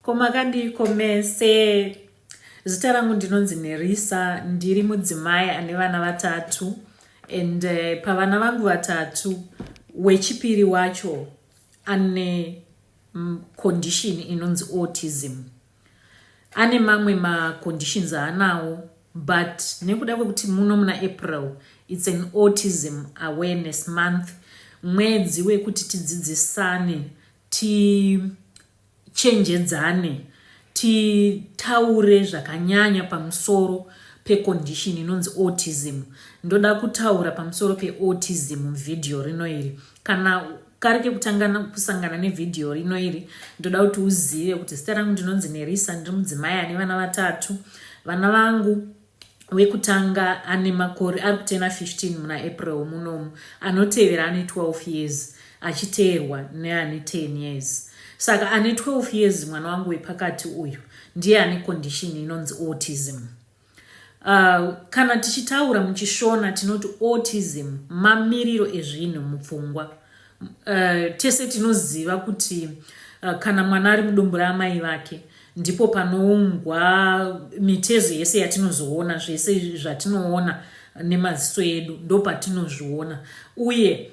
Ko makandiiko mese? Zita rangu ndinonzi Nerisa, ndiri mudzimai ane vana vatatu and uh, pavana vangu vatatu wechipiri wacho ane mm, condition inonzi autism. Ane mamwe maconditions aanawo but nekuda kwekuti muno muna April it's an autism awareness month mwedzi wekuti tidzidzisane ti Tichenjedzane titaure zvakanyanya pamusoro pe condition inonzi autism. Ndoda kutaura pamusoro pe autism mu video rino iri. Kana kari kekutanga kusangana ne video rino iri ndoda kuti uzive kuti zita rangu ndinonzi Nerisa ndiri mudzimai ane vana vatatu. Vana vangu wekutanga ane makore ari kutena 15 muna April munomu, anotevera ane 12 years achiteerwa neane 10 years. Saka ane 12 years mwana wangu wepakati uyu ndiye ane condition inonzi autism. Uh, kana tichitaura muchishona tinoti autism mamiriro ezvinhu mupfungwa Uh, tese tinoziva kuti uh, kana mwana ari mudumbu raamai vake ndipo panoungwa mitezo yese yatinozoona zvese zvatinoona nemaziso edu ndopatinozviona uye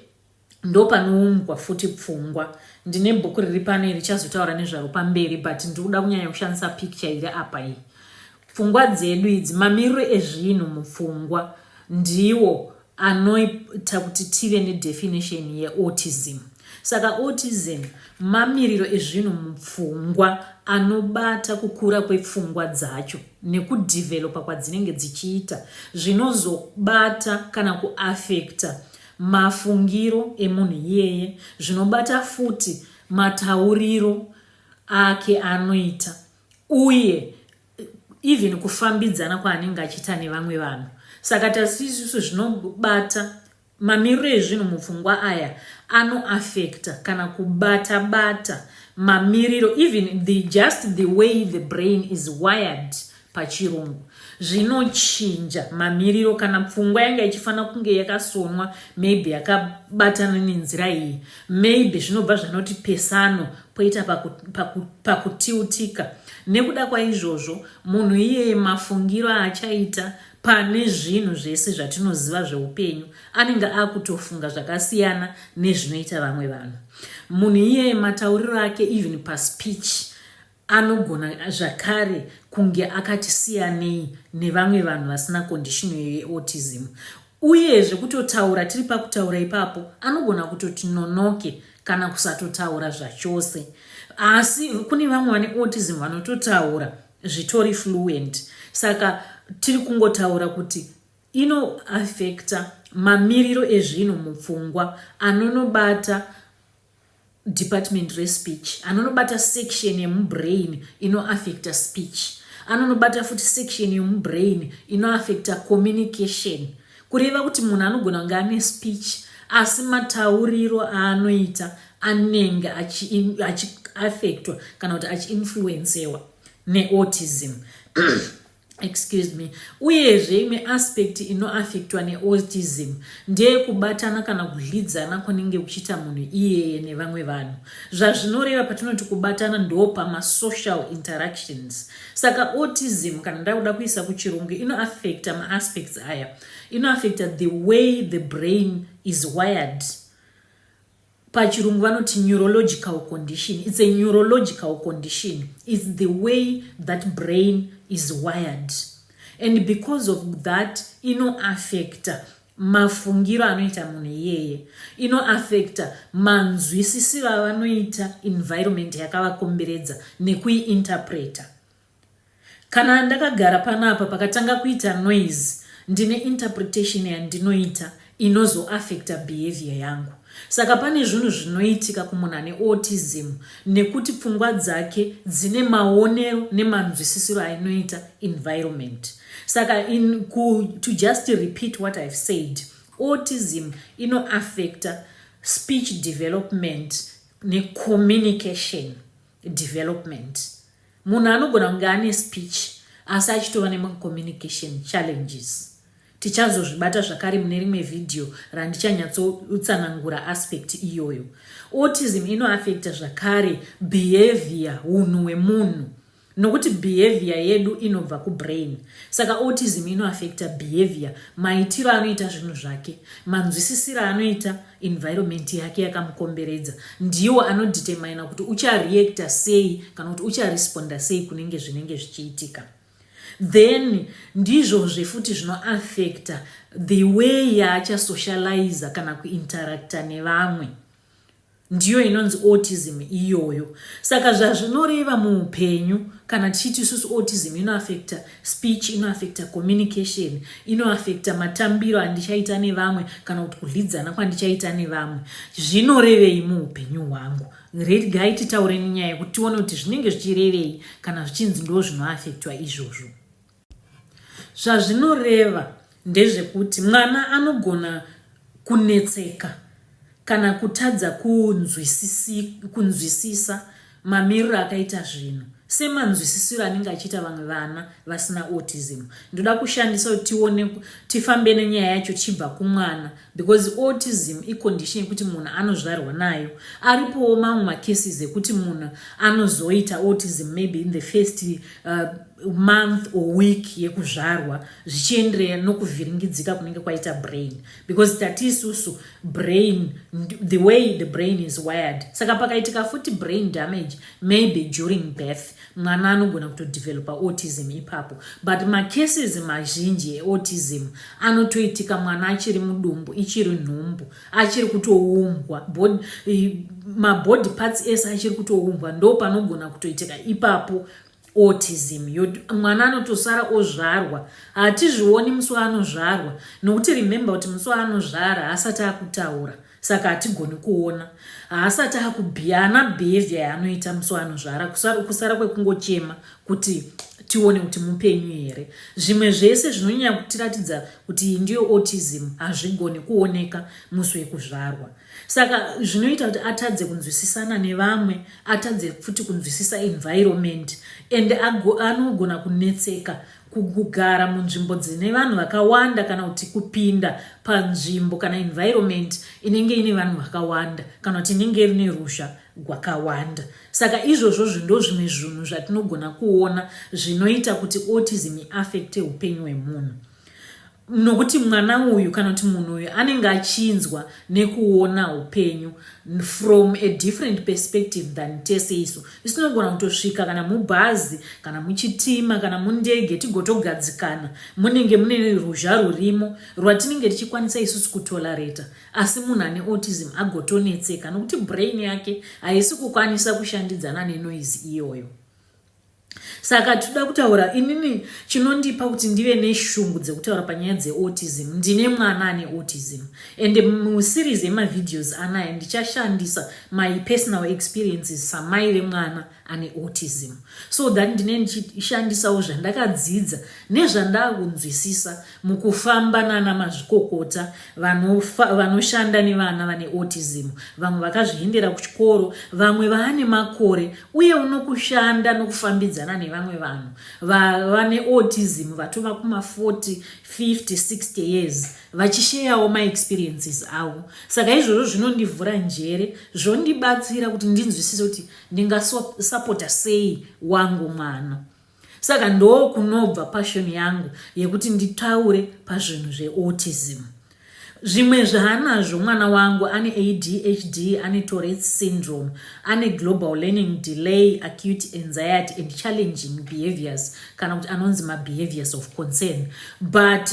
ndopanoumbwa futi pfungwa ndine bhuku riri pano iri chazotaura nezvaro pamberi but ndiri kuda kunyanya kushandisa picture iri apa iyi pfungwa dzedu idzi mamiriro ezvinhu mupfungwa ndiwo anoita kuti tive nedefinition yeautism. Saka autism mamiriro ezvinhu mupfungwa anobata kukura kwepfungwa dzacho nekudhivhelopa kwadzinenge dzichiita zvinozobata kana kuafekta mafungiro emunhu iyeye zvinobata futi matauriro ake anoita uye even kufambidzana kwaanenge achiita nevamwe vanhu saka tasi isusu zvinobata mamiriro ezvinhu mupfungwa aya anoafekta kana kubata bata mamiriro even the just the way the brain is wired pachirungu zvinochinja mamiriro kana pfungwa yanga ichifanira kunge yakasonwa maybe yakabatana nenzira iyi maybe zvinobva zvanoti pesano Poita paku, paku, pakutiutika nekuda kwaizvozvo munhu iyeye, mafungiro aachaita pane zvinhu zvese zvatinoziva zveupenyu, anenge akutofunga zvakasiyana nezvinoita vamwe vanhu. Munhu iyeye matauriro ake, even paspeech, anogona zvakare kunge akati siyanei nevamwe vanhu vasina condition yeautism. Uyezve kutotaura tiri pakutaura ipapo anogona kutoti nonoke kana kusatotaura zvachose. Asi kune vamwe vane autism vanototaura zvitori fluent. Saka tiri kungotaura kuti inoaffecta mamiriro ezvinhu mupfungwa anonobata department respeech anonobata section yemubrain inoaffecta speech anonobata futi section yemubrain inoaffecta communication kureva kuti munhu anogona kunge ane speech asi matauriro aanoita anenge achiaffectwa kana kuti achiinfluencewa neautism excuse me uyezve imwe aspect inoaffectwa neautism ndeyekubatana kana kudlidzana kunenge kuchiita munhu iyeye nevamwe vanhu zvazvinoreva patinoti kubatana ndo pamasocial interactions saka autism kana ndakuda kuisa kuchirungu inoaffecta maaspects aya inoaffecta the way the brain is wired Pachirungu vanoti neurological condition. It's a neurological condition. It's the way that brain is wired. And because of that, inoaffecta mafungiro anoita munhu iyeye inoaffecta manzwisisiro avanoita environment yakavakomberedza nekuiinterpreta Kana ndakagara panapa pakatanga kuita noise ndine interpretation yandinoita inozo affecter behaviour yangu. Saka pane zvinhu zvinoitika kumunhu ane autism nekuti pfungwa dzake dzine maonero nemanzwisisiro ainoita environment. Saka in ku, to just repeat what I've said, autism ino affecter speech development necommunication development. Munhu anogona kunge ane speech asi achitova nemacommunication challenges. Tichazozvibata zvakare mune rimwe vhidhiyo randichanyatsoutsanangura aspect iyoyo. Autism inoaffecta zvakare behaviour, unhu hwemunhu, nokuti behaviour yedu inobva kubrain. Saka autism inoaffecta behaviour, maitiro anoita zvinhu zvake, manzwisisiro anoita, environment yake yakamukomberedza ndiwo anodetermina kuti uchareactor sei kana kuti ucharesponda sei kunenge zvinenge zvichiitika then ndizvozve futi zvinoaffecta the way yaachasocializa kana kuinteracta nevamwe ndiyo inonzi autism iyoyo saka zvazvinoreva muupenyu kana tichiti isusu autism inoaffecta Speech inoaffecta communication, inoaffecta matambiro andichaita nevamwe kana kuti kudyidzana kwandichaita nevamwe. Zvinorevei muupenyu hwangu? Regai titaure nenyaya yekuti tione kuti zvinenge zvichirevei kana zvichinzi ndo zvinoaffectwa izvozvo. Zvazvinoreva, Ndezvekuti mwana anogona kunetseka kana kutadza kunzwisisa mamiriro akaita zvinhu semanzwisisiro anenge achiita vamwe vana vasina autism. Ndoda kushandisa kuti tione tifambe nenyaya yacho tichibva kumwana because autism icondition yekuti munhu anozvarwa nayo. Aripowo mamwe macases ekuti munhu anozoita autism maybe in the first uh, month or week yekuzvarwa. zvichienderera nokuvhiringidzika kunenge kwaita brain because tati isusu brain the way the brain is wired saka pakaitika futi brain damage maybe during birth mwana anogona kutodevelopa autism ipapo but macases mazhinji eautism anotoitika mwana achiri mudumbu ichiri nhumbu achiri kutoumbwa mabody parts ese achiri kutoumbwa ndo panogona kutoitika ipapo autism yod mwana anotosara ozvarwa hatizvioni musi waanozvarwa nokuti remember kuti musi waanozvara haasati akutaura saka hatigoni kuona haasati akubhiya ana behavior yaanoita musi waanozvara kusara, kusara kwekungochema kuti tione kuti mupenyu here zvimwe zvese zvinonyanya kutiratidza kuti iyi ndiyo autism hazvigoni kuoneka musi wekuzvarwa Saka zvinoita kuti atadze kunzwisisana nevamwe, atadze futi kunzwisisa environment and anogona kunetseka kugara munzvimbo dzine vanhu vakawanda kana kuti kupinda panzvimbo kana environment inenge ine vanhu vakawanda kana kuti inenge rine ruzha gwakawanda saka izvozvo zvindo zvimwe zvinhu zvatinogona kuona zvinoita kuti autism affecte upenyu hwemunhu nokuti mwana uyu kana kuti munhu uyu anenge achinzwa nekuona upenyu from a different perspective than tese isu isu tinogona kutosvika kana mubhazi kana muchitima kana mundege tigotogadzikana munenge mune ruzha rurimo rwatinenge tichikwanisa isusu kutolareta asi munhu ane autism agotonetseka nokuti brain yake haisi kukwanisa kushandidzana nenoise iyoyo Saka tinoda kutaura, inini chinondipa kuti ndive neshungu dzekutaura panyaya dzeautism, ndine mwana ane autism and museries yemavideos anaya ndichashandisa my personal experiences samai vemwana ane autism so that ndine ndichishandisawo zvandakadzidza nezvandakunzwisisa Mukufamba nana mazvikokota vanofa, vanoshanda nevana vane autism, vamwe vakazviendera kuchikoro, vamwe vaane makore uye unokushanda nokufambidzana nevamwe vanhu vane autism vatova kuma 40, 50, 60 years vachisheyawo maexperiences avo. Saka izvozvo zvinondivhura njere zvondibatsira kuti ndinzwisise kuti ndingasapota sei wangu mwana. Saka ndokunobva passion yangu yekuti nditaure pazvinhu zveautism. Zvimwe zvaanazvo mwana wangu ane ADHD, ane Tourette's syndrome, ane global learning delay, acute anxiety and challenging behaviors kana kuti anonzi mabehaviors of concern but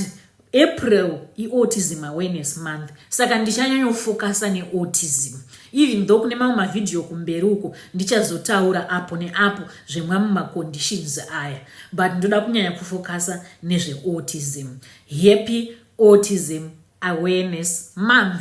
April iAutism Awareness Month saka ndichanyanyofokasa neautism even though kune mamwe mavhidhiyo kumberi uko ndichazotaura apo neapo zvemwamwe maconditions aya but ndoda kunyanya kufokasa nezveautism. Happy Autism Awareness Month!